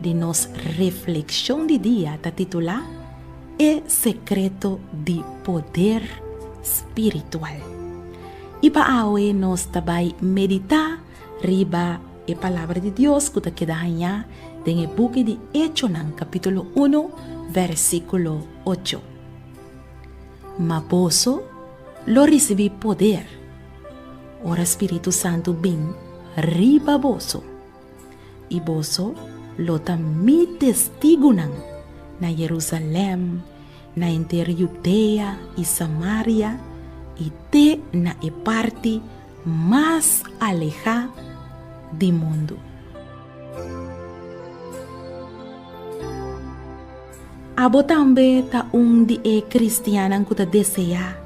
di nos reflekshon di dia ta titulá E sekreto di poder spiritual. I pa awe nos ta bai meditá riba e palabra di Dios ku ta keda hañá den e buki di Echonan kapítulo unu vèrsikulo ocho, Ma boso lo risibí poder ora Spiritu Santu bin riba boso. I boso lo ta mi testigunan na Jerusalem, na henter Judea i Samaria i te na e parti mas alehá di mundu. Abo tambe ta un di e kristiannan ku ta deseá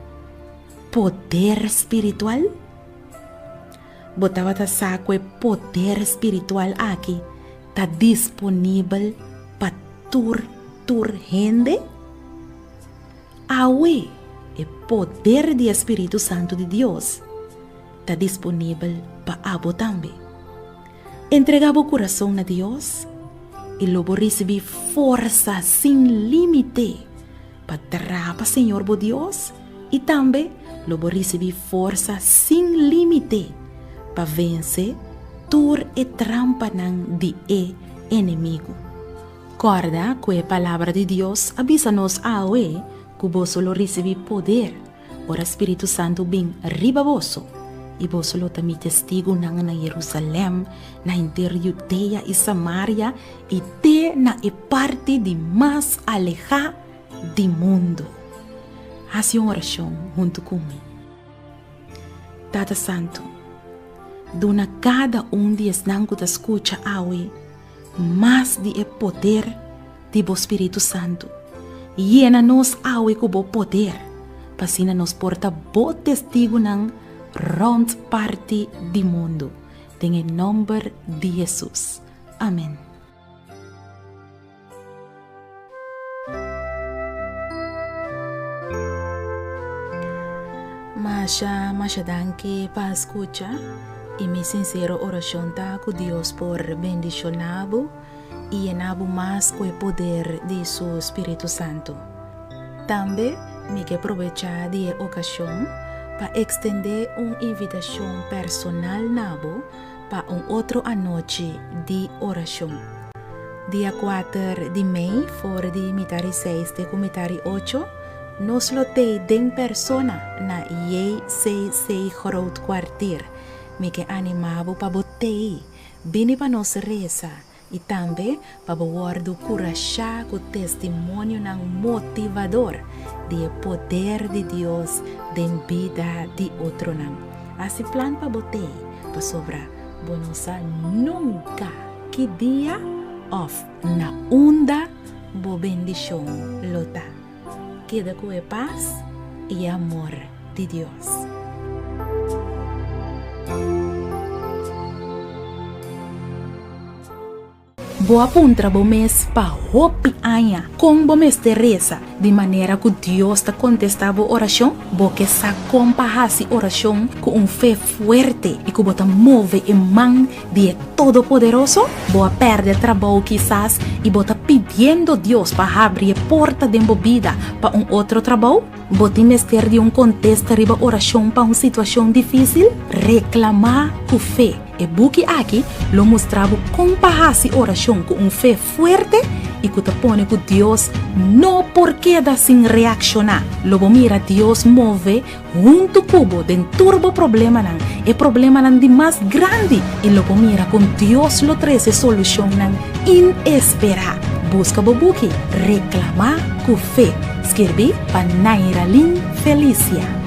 poder spiritual? Bo tabata sa ku e poder spiritual aki ta disponibel pa tur tur hende? Awe, e poder di e spiritu santu di Dios ta disponibel pa abo tambe. Entrega bo kurason na Dios i lo bo risibí forsa sin límite pa traba Señor bo Dios I tambe lo bo risibí forsa sin límite pa vense tur e trampanan di e enemigu. Kòrda ku e Palabra di Dios a bisa nos awe ku boso lo risibí poder ora spiritu santu bin riba boso, i boso lo ta mi testigunan na Yerusalèm, na henter Yudea i Samaria i te na e parti di mas alehá di mundu. Hasi un orashon huntu ku mi. Tata Santu, duna kada un di esnan ku ta skucha awe mas di e poder di bo Spiritu Santu. Yena nos awe ku bo poder, pa asina nos por ta bo testigunan rònt parti di mundu. Den e nòmber di Hesus. Amèn. Masha masha danki pa skucha i mi sinsero orashon ta ku Dios por bendishoná bo i yená bo mas ku e poder di su spiritu santu. Tambe mi ke probechá di e okashon pa ekstendé un invitashon personal na bo Pa un otro anochi di orashon. Dia kuater di mei for di mita ri seis te ku mita ri ocho, nos lo tei den persona na JCC Groot Kwartier. Mi ke animá bo pa bo tei bini pa nos resa. i tambe pa bo wòrdu kurashá ku testimonionan motivador di e poder di Dios den bida di otronan. A si plan pa bo t'ei, pasobra bo no sa nunka ki dia òf na unda bo bendishon lo ta. Keda ku e pas i e amor di Dios. Bo a puntra bo mes pa hopi aña kon bo mester resa di manera ku Dios ta kontestá bo orashon? Bo ke sa kon pa hasi orashon ku un fe fuerte i ku bo ta move e man di e Todopoderoso? Bo a pèrdè trabou kisas i bo ta pidiendo Dios pa habri e porta den bo bida pa un otro trabou? Bo tin mester di un kontesta riba orashon pa un situashon difísil? Reklamá ku fe. E buki aki lo mustra bo kon pa hasi orashon ku un fe fuerte i ku ta pone ku Dios no por keda sin reakshoná. Lo bo mira Dios move huntu ku bo den tur bo problemanan, e problemanan di mas grandi, i lo bo mira kon Dios lo trese solushonnan inesperá. Buska bo buki Reklamá ku fe, skirbí pa Nairalin Felicia.